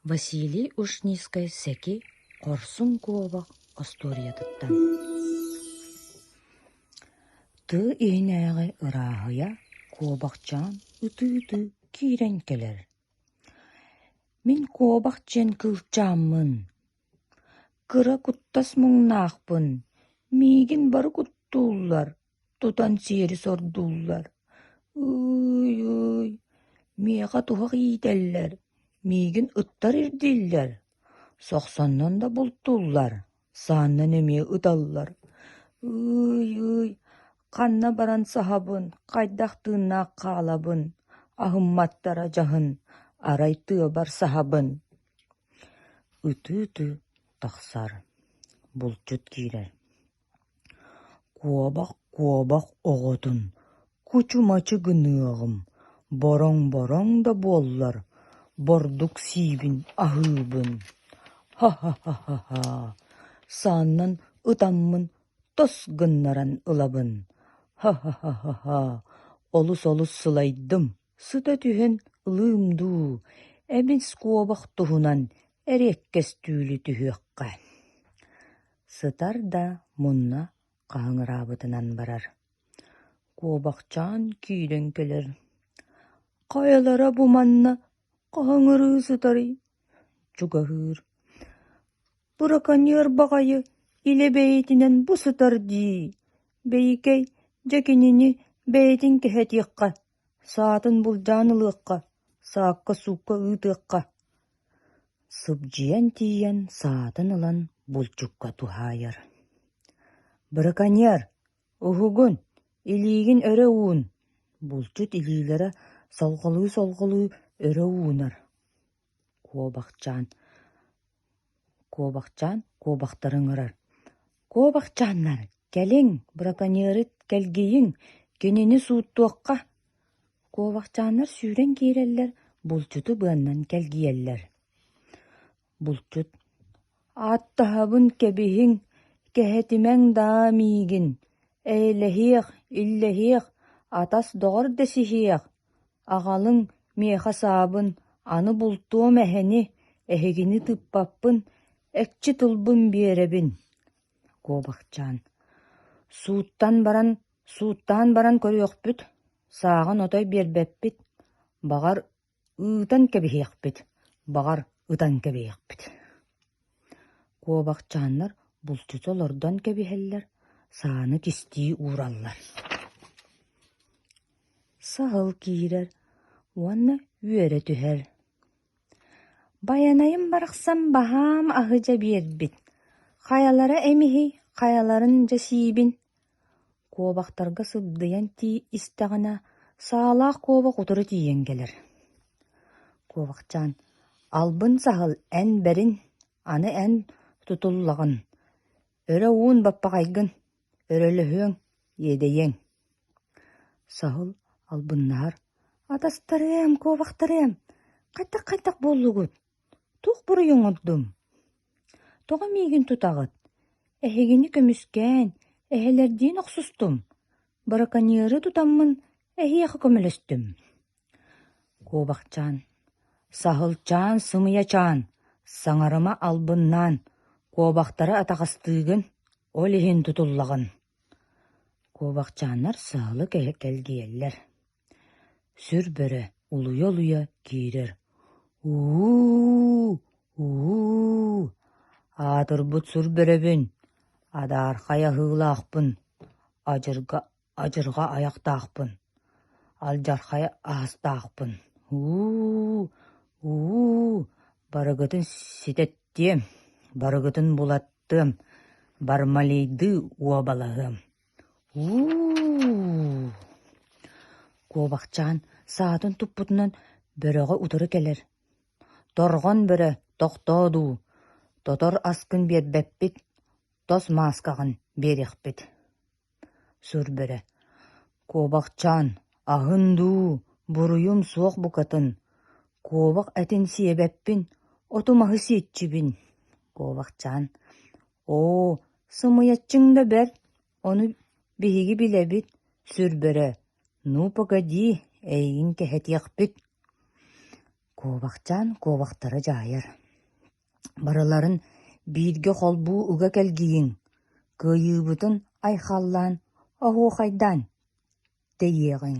Василий Ушницкай-Сэки хорсун куобах остуоруйатыттан Тыы иһинээҕи ырааһыйа куобахчаан ытыы-ытыы киирэн кэлэр «Мин куобах диэн кыылчааммын, кыра куттас муҥнаахпын, миигин бары куттууллар Тутан сиэри сордууллар: «Ыы-ый, миэхэ туһах иитэллэр, миигин ыттар ирдииллэр, сохсоннон да бултууллар, сааннан эмиэ ыталлар, ыы-ый, ханна баран саһабын, хайдах тыыннаах хаалабын, аһымматтара дьаһын, арай тыабар саһабын» Ытыы-ытыы тахсар, булчут киирэр Куобах-куобах оҕотун кучумачы гыныаҕым, бороҥ-бороҥ да буоллар, бордук сиибин аһыыбын, һа-һа-һа-һа сааннан ытаммын тос гыннаран ылабын, һа-һа-һа-һа олус-олус сылайдым Сыта түһэн лыым дуу, эбин скобах туһунан эриэккэстүүлү түһүөххэ сытар да мунна хаһыҥыраабытынан барар. Куобахчаан киирэн кэлэр: «Хайалара бу манна хаһыҥырыы сытарый?» чугаһыыр. «Быраконьер баҕайы илэ бэйэтинэн бу сытар дии, бэйикэй, дьэ кинини бэйэтин кэһэтиэххэ» Саатын былдьаан ылыахха, саакка-суукка ыытыахха, сыбдьыйан тиийэн саатын ылан булчукка туһаайар: «Браконьер, уһугун, илиигин өрө уун!» Булчут илиилэрэ солҕолуу-солҕолуу өрө уунар. Куобахчаан Куобахчаан куобахтары ыҥырар Куобахчааннар, кэлиҥ, браконьеры кэлгийиҥ, кинини сууттуохха Куобахчааннар сүүрэн киирэллэр, булчуту быаннан кэлгийэллэр Булчут Ааттаһабын кэбиһиҥ, кэһэтимэҥ даа миигин, Эйэлэһиэх, иллэһиэх, атас доҕор дэсиһиэх Аҕалыҥ миэхэ саабын, аны бултуом эһэни, эһигини тыыппаппын, экчи тылбын биэрэбин куобахчаан Сууттан баран, сууттаан баран көрүөхпүт, сааҕын отой биэрбэппит, баҕар, ыытан кэбиһиэхпит, баҕар, ытан кэбиһиэхпит Куобахчааннар булчута олордон кэбиһэллэр, сааны кистии уураллар Саһыл киирэр уонна үөрэ түһэр: «Байанайым барахсан баһаам аһыдьа биэрбит, хайалара эмиһий, хайаларын дьэ сиибин Куобахтарга сыбдыйан тии истэҕинэ, саалаах куобах утары тиийэн кэлэр. Куобахчаан, албын саһыл эн бэрин, аны эн тутуллаҕын, өрө уун баппаҕайгын, өрөлөһүөҥ, иэдэйиэҥ Саһыл албыннаһар: «Атастарыам, куобахтарыам, хайдах-хайдах буоллугут?» Туох буруйуҥ ордум? Тоҕо миигин тутаҕыт? Эһигини көмүскээн, эһэлэрдиин охсустум, быраканиары тутаммын эһиэхэ көмөлөстүм. Куобахчаан, Саһылчаан, Сымыйачаан, саҥарыма албыннаан, куобахтары атаҕастыыгын, ол иһин тутуллаҕын. Куобахчааннар саһылы кэлгийэллэр Сүр бөрө улуйа-улуйа киирэр: «У-уу, у-уу, аатырбыт сүр бөрөбүн, адаархай аһыылаахпын, адьырҕа адьырҕа айахтаахпын, алдьархай аһастаахпын, у-уу, у-уу, барыгытын ситэттиэм, барыгытын булаттыам, бармалийдыы уобалаһыам» уу куобахчаан саатын туппутунан бөрөҕө утары кэлэр торҕон бөрө тохтоо дуу тотор аскын биэрбэппит тос мааскаҕын биэриэхпит сур бөрө куобахчаан аһын дуу буруйум суох букатын куобах этин сиэбэппин оту маһы сиэччибин куобахчаан Оо, сымыйаччыҥ да бэрт, ону биһиги билэбит, сүрбэрэ, ну, погоди, эйигин кэһэтиэхпит Куобахчаан куобахтара дьаайар Барыларын бииргэ холбуу уга кэлгийиҥ, кыайыыбытын айхаллаан оһуохайдаан тэйиэҕиҥ